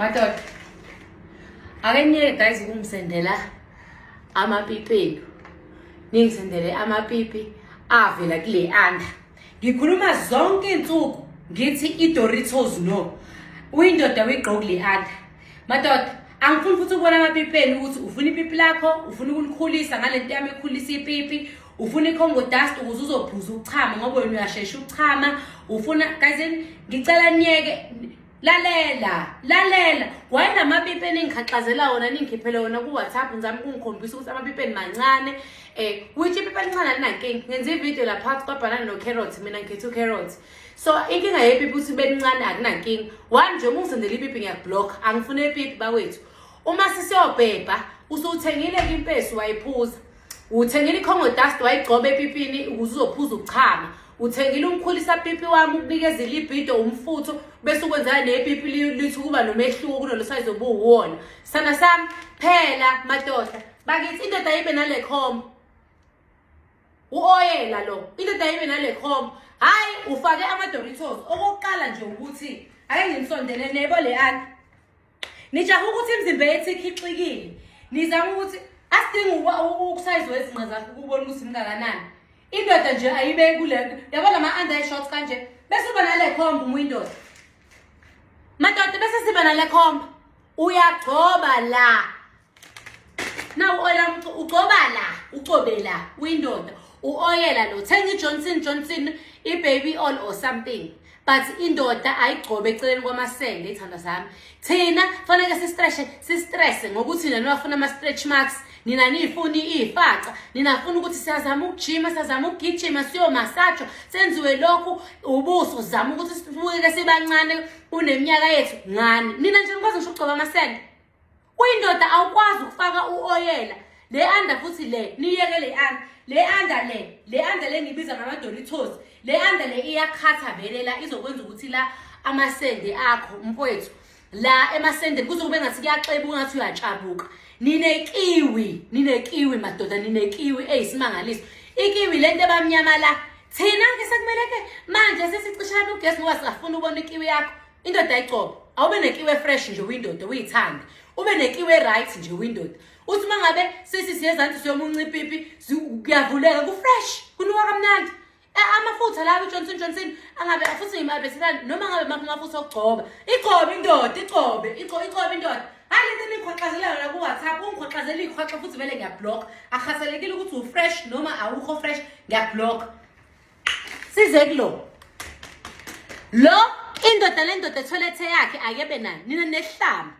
madoda ake niyeke guys ukungisendela amapipi enu ningisendele amapipi avela kule anda ngikhuluma zonke iy'nsuku ngithi i-doritos no uyindoda uyigqoki le anda madoda angifuni futhi ukubona amapipi enu ukuthi ufuna ipipi lakho ufuna ukulikhulisa ngale nto yami ekhulisa ipipi ufuna icongo dust ukuze uzophuza ukuchama ngoba wena uyashesha ukuchama ufuna kazini ngicela niyeke lalela lalela wayena amapipi eningikhaxazela wona ningikhiphele wona ku-whatsapp ngizame ukungikhombisa ukuthi amapipi enimancane um which ipipi elincane alinankinga ngenza ividiyo laphansi kwabhanana no-carrot mina ngikhetha u-carrot so inkinga yepipi ukuthi belincane akunankinga one nje uma ungizendela ipipi ngiyakublock angifune ipipi bakwethu uma sisiyobhebha usuwuthengile-ke impesi wayiphuza uthengile icongo dust wayigcoba epipini ukuze uzophuza ukuchama uthengile umkhulisa pipi wami ukunikeza ilibhido umfutho bese ukwenzela nepipi lithi ukuba nomehluko kunolo sayizi obuwuwona sana sami phela madoda bakithi indoda yibe nale khomba u-oyela lo indoda yibe nale khomba hhayi ufake ama-doritos okokuqala nje ukuthi ake nginisondele nebo le ani Nijaha ukuthi imizimba yethu ikhixikile. Nizama ukuthi asidingi ukusayizwa izinqa zakho ukubona ukuthi mngakanani. Indoda nje ayibe kule yabo lama under shorts kanje bese uba nale khomba uma indoda. Madoda bese siba nale khomba. Uyagcoba la. Now ola ugcoba la, ugcobe la uyindoda. Uoyela lo thenga iJohnson Johnson ibaby oil or something. But indoda ayigcobe eceleni kwamasende ithanda zami. Thina fanele sistreshe sistress ngokuthi nina nifuna ama stretch marks, nina nifuni ifaca, nina funa ukuthi siyazama ukujima, siyazama ukugijima, siyo massage, senziwe lokhu ubuso uzama ukuthi sibuke sibancane kuneminyaka yethu ngani. Nina nje nikwazi ngisho ukugcoba amasende. Kuyindoda awukwazi ukufaka uoyela le anda futhi le niyeke le anda le anda le le anda le ngibiza ngamadoritos le anda le iyakhatha vele la izokwenza ukuthi la amasende akho mfowethu la emasendeni kuzokube ngathi kuyaxebuka ngathi uyatshabuka ninekiwi ninekiwi madoda ninekiwi eyisimangaliso ikiwi lento ebamnyama la thina ke sekumele ke manje sesicishana ugesi ngoba singafuna ubona ikiwi yakho indoda ayicobe awube nekiwe fresh nje uyindoda uyithanda ube nekiwe right nje uyindoda uthi uma ngabe sisi siyezansi siyomunca ipipi kuyavuleka kufresh kunuka kamnandi amafutha lawo ujohnson johnson angabe futhi ngimabeselani noma ngabe makho amafutha okugcoba igcobe indoda igcobe igcobe indoda hayi lento eniyikhoxazelayo la ku-whatsapp ungikhoxazela iyikhoxa futhi vele ngiyablock akhaselekile ukuthi ufresh noma awukho fresh ngiyablock size kulo lo indoda lendoda etholethe yakhe akebe nayo nina nehlamba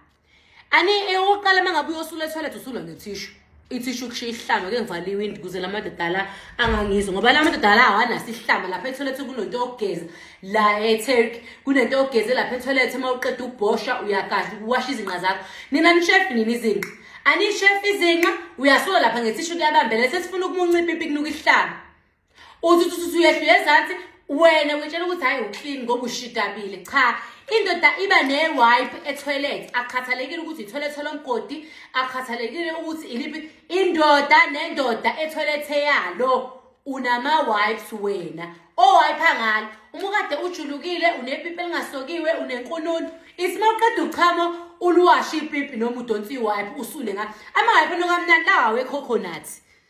ani eyokuqala uma ngabe uyosula etholethe usula nethishu ithishu kushiya ihlamba ke ngivala iwindi kuze la madoda la angangizwa ngoba la madoda la awanaso ihlamba lapha etholethe kunento yokugeza la eturkey kunento yokugeze lapha etholethe uma uqeda ukubhosha uyakadla uwasha izinqa zakho nina nishefi nini izinqa anishefi izinqa uyasula lapha ngethishu kuyabambela sesifuna ukumuncipha ipikinuka ihlamba uthi uthi uthi uyehlule ezansi wena witshela ukuthi hhayi uclean ngoba ushidabile cha indoda iba ne-wipe etoilet akukhathalekile ukuthi itoilet olomgodi akukhathalekile ukuthi iliphi indoda nendoda etoilet eyalo unama-wipes wena owayipa oh, ngalo uma ukade ujulukile unepipi elingasokiwe unenkununu ithi uma uqeda uchamo uluwashe ipipi noma udonsa iwayipi usule ngalo ama-wipe nokamnandi lawa wecoconut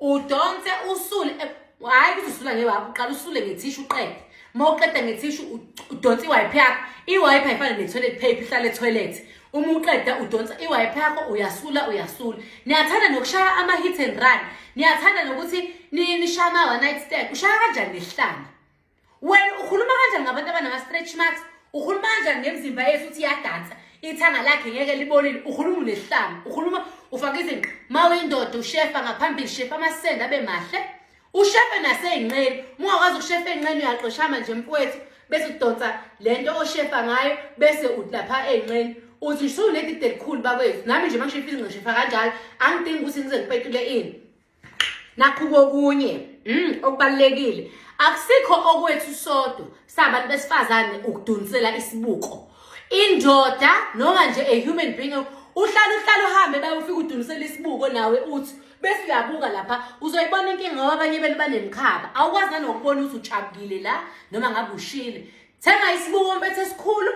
udonse usule eh, hhayi ukuthi usula ngewaphi uqala usule ngethishu uqede uma uqeda ngethishu udonsa iwayiphi yakho iwayiphi ayifane ne-toilet paper ihlale etoilet uma uqeda udonsa iwayiphi yakho uyasula uyasula niyathanda nokushaya ama-hit and run niyathanda nokuthi nishaya ama-one night stand ushaya kanjani nesihlanga wena ukhuluma kanjani ngabantu abanama-stretch marks ukhuluma kanjani ngemzimba yethu ukuthi iyadansa ithanga lakhe ngeke libonile ukhuluma unesihlanga ukhuluma ufake izinqa ma uyindoda ushefa ngaphambili shefa amasende abe mahle ushefe nasey'nqeni mungakwazi ukushefa ey'nqeni uyaxoshama nje mfowethu bese udonsa le nto oshefa ngayo bese udlapha ey'nqeni uthi usunedide elikhulu bakwethu nami nje uma ngishefa izinqa shefa kanjalo angidingi ukuthi ngize ngipetule ini nakhu kokunye mm okubalekile akusikho okwethu sodwa sabantu besifazane ukudunisela isibuko indoda noma nje a human being uhlala uhlala uhambe bayofika udunisela isibuko nawe uthi bese uyabuka lapha uzoyibona inkinga ngoba abanye benu banemkhaba awukwazi nanokubona ukuthi ujabukile la noma ngabe ushile thenga isibuko mpethe esikhulu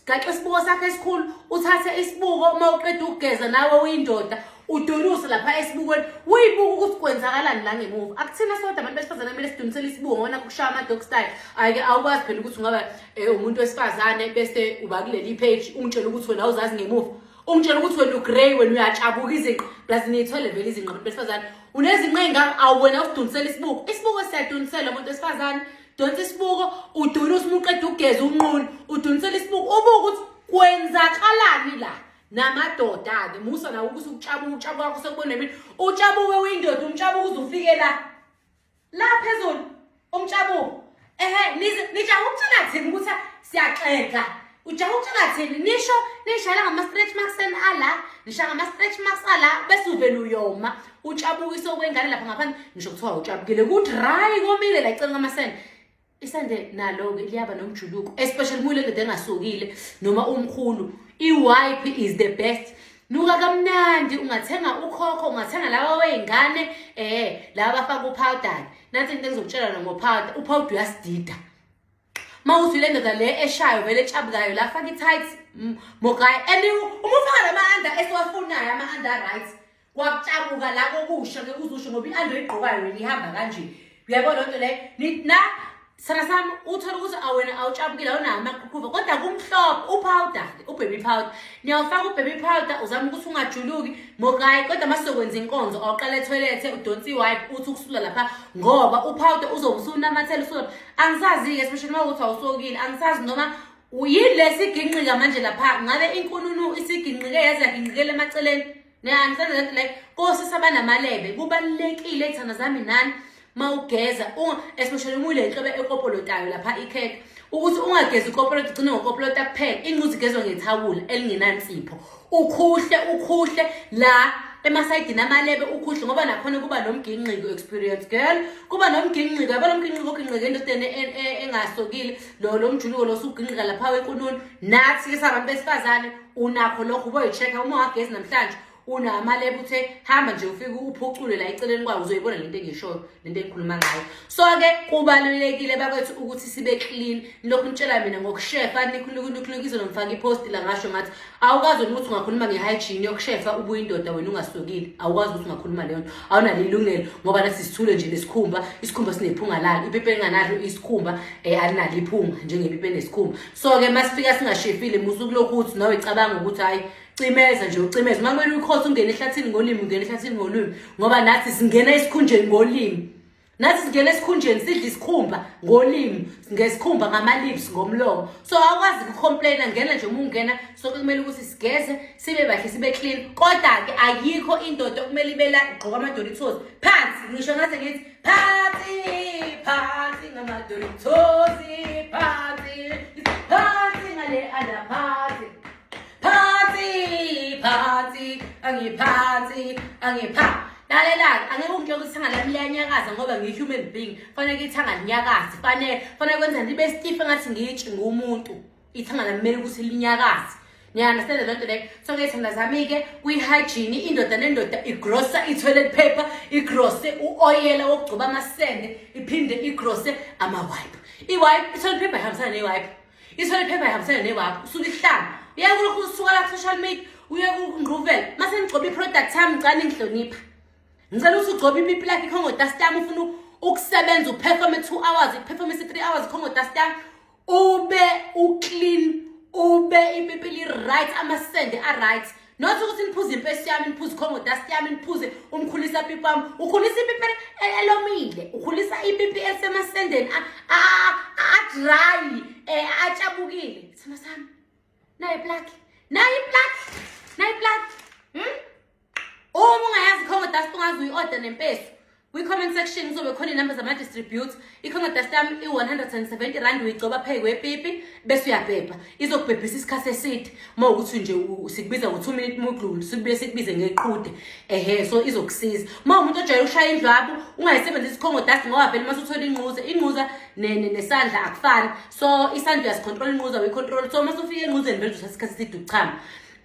gaxe isibuko sakho esikhulu uthathe isibuko uma uqeda ukugeza nawe uyindoda udonuse lapha esibukweni uyibuka ukuthi kwenzakalani la ngemuva akuthina sodwa abantu besifazane kumele sidunisele isibuko ngona kushaya ama-dog style ayike awukwazi phela ukuthi ungaba um umuntu wesifazane bese uba kuleli page ungitshela ukuthi wena awuzazi ngemuva ungitshela ukuthi wena ugrey wena uyatshabuka izinqa plus niyithole vele izinqa abantu besifazane unezinqa ey'ngaka awuwena usidunisela isibuko isibuko siyaduniselwa umuntu wesifazane donsa isibuko udunisa uma uqeda ugeza unqunu udunisela isibuko ubuke ukuthi kwenzakalani la namadoda-ke musa nawo ukuthi ukutshabuka utshabuka kwakho sekubona mina utshabuke uyindoda umtshabuka uze ufike la la phezulu umtshabuko ehe nijaha ukuthina thini ukuthi siyaxega ujaha ukuthi ngathini nisho nishayela ngama-stretch marks and ala nisha ngama-stretch marks ala bese uvele uyoma utshabukise okwengane lapha ngaphandle ngisho kuthiwa utshabukile ukuthi rayi komile la icela ngamasende isende nalo-ke liyaba nomjuluko especially muyile ndoda engasokile noma umkhulu i-wipe is the best nuka kamnandi ungathenga ukhokho ungathenga laba wey'ngane um laba bafaka uphawudani nansi into engizokutshela noma uphawuda uphawuda uyasidida uma uthi le ndoda le eshayo vele etshabukayo la faka i-tight mogayi and uma ufaka la ma-under esiwafunayo ama-under right kwakutshabuka la kokusha ke kuzusho ngoba i-under igqokayo wena ihamba kanje uyabo loo nto leyo na sana sami uthole ukuthi awena awutshapukile awunawo amaqhuqhuva kodwa kumhlophe upowda ubaby powder niyawufaka ubaby powder uzama ukuthi ungajuluki mokayi kodwa uma sizokwenza inkonzo awuqala ethoyilethe udonsi iwipe uthi ukusula lapha ngoba upowder uzobe usunamathela usula angisazi-ke especially uma ukuthi awusokile angisazi noma yini lesiginqika manje lapha ngabe inkununu isiginqike yaze yaginqikela emaceleni angisazi that like kosi sabanamalebe kubalulekile thana zami nani mawugeza especially uma ule nhlobo ekopolotayo lapha ikhekhe ukuthi ungagezi ikopolota ugcine ngokopolota kuphela inquzi igezwa ngethawula elingenansipho ukhuhle ukhuhle la emasayidini amalebe ukhuhle ngoba nakhona kuba nomginqiko experience girl kuba nomginqiko yabo lomginqiko oginqike endodeni e, e, engasokile lo lomjuluko lo suginqika lapha wenkununu nathi ke sabantu besifazane unakho lokho uboyi-check-a uma wagezi namhlanje unamalebe uthe hamba nje ufike uphucule la eceleni kwawo uzoyibona lento engishoyo lento engikhuluma ngayo so-ke kubalulekile bakwethu ukuthi sibe clean lokhu nitshela mina ngokushefa nikhulukunikhunukizo nomfaka iposti la ngasho ngathi awukwazi wena ukuthi ungakhuluma nge-hygiene yokushefa ubuye indoda wena ungasukile awukwazi ukuthi ungakhuluma leyo nto awunalo ilungelo ngoba nasi sithule nje nesikhumba isikhumba sinephunga lalo ipipi elinganalo isikhumba um eh, alinalo iphunga njengepipi enesikhumba so-ke masifika singashefile musukulokhu ukuthi nawe cabanga ukuthi hhayi cimeza nje ucimeza uma kumele uyikhothe ungene ehlathini ngolimi ungene ehlathini ngolimi ngoba nathi singena esikhunjeni ngolimi nathi singena esikhunjeni sidla isikhumba ngolimi ngesikhumba ngama-lips ngomlomo so awukwazi kucomplaina ngena nje uma ungena so kumele ukuthi sigeze sibe bahle sibe clean kodwa-ke ayikho indoda okumele ibela igqoka amadolitos phansi ngisho ngathi ngithi phansi phansi ngamadolitos phansi phansi ngale alaphansi phansi phansi angiphansi angipha lalelani angeke ungitshela ukuthi ithanga lami liyanyakaza ngoba ngiyi-human being fanele ke ithanga linyakazi fanele fanele kwenza ndibe stiff engathi ngitshe ngumuntu ithanga lami kumele ukuthi linyakazi niyaunderstand loo nto leyo so ke thanda zami-ke kwi-hygiene indoda nendoda igrosa i-toilet paper igrose u-oyela wokugcoba amasende iphinde igrose ama-wipe i-wipe i-toilet paper ihambisana ne-wipe isole phepha ihambisene newakho usuke ihlanga uye kulokhu usuka la social media uye kungquvela mase ngigcoba i-product yami ngicane ngihlonipha ngicela ukuthi ugcobe ipipi lakhe ikhongotast yami ufuna ukusebenza uperforme two hours iperforme si-three hours ikhongotast yami ube uclean ube ipipi li-right amasende a-right Nothi ukuthi niphuze impesi yami, niphuze ikhongo dust yami, niphuze umkhulisa pipi wami. Ukhulisa ipipi e- elomile, ukhulisa ipipi elisemasendeni a- a- a- a-dry, eh, atshabukile. Sithando sami, nayo iplaki, nayo iplaki, nayo iplaki. Hmm? Uma ungayazi ikhongo dust ungaze uyi-order nempesu. Kwi-comment section kuzobe khona inamba zama-distribute i-congadas tam i-170 rand uyigcoba pheyi kwepipi bese uyabhebha izokubhebhisa isikhathi eside uma ukuthi nje sikubiza ngo-two minute mudlulu sibuye sikubize ngeqhude ehe so izokusiza uma umuntu ojwayele ukushaya indlwabu ungayisebenzisa icongodas ngoba vele uma suthole inquza inquza nesandla akufani so isandla uyasicontrola inquza uyicontrola so uma sufika enquzeni vele uzothatha isikhathi eside ukuchama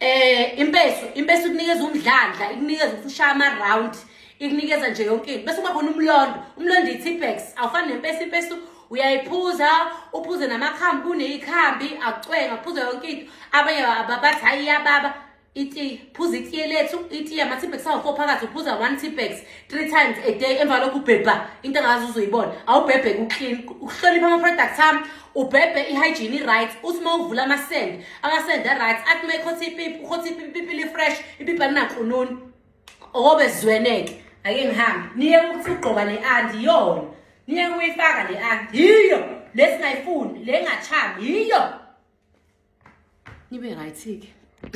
um impeso impeso ikunikeza umdlandla ikunikeza ukuthi ushaya ama-round ikunikeza nje yonke into bese kuba khona umlondo umlondo i-tipex awufani nempesi impesi uyayiphuza uphuze namakhambi kuneyikhambi akucwenga uphuze yonke into abanye ababathi hayi iyababa itiye phuza itiye lethu itiye ama-tipex awu-four phakathi uphuza one tipex three times a day emva lokhu ubhebha into engazi uzoyibona awubhebhe kuclean ukuhlonipha ama-products ami ubhebhe i-hygiene i-right uthi uma uvula amasende amasende a-right athi uma ikhothi ipipi ukhothi ipipi ipipi li-fresh ipipi alinankununi okobe zweneke ake ngihambe niye ukuthi ugqoka le anti yona niye kuyifaka le anti yiyo lesingayifuni le ngachabi yiyo nibe right-ke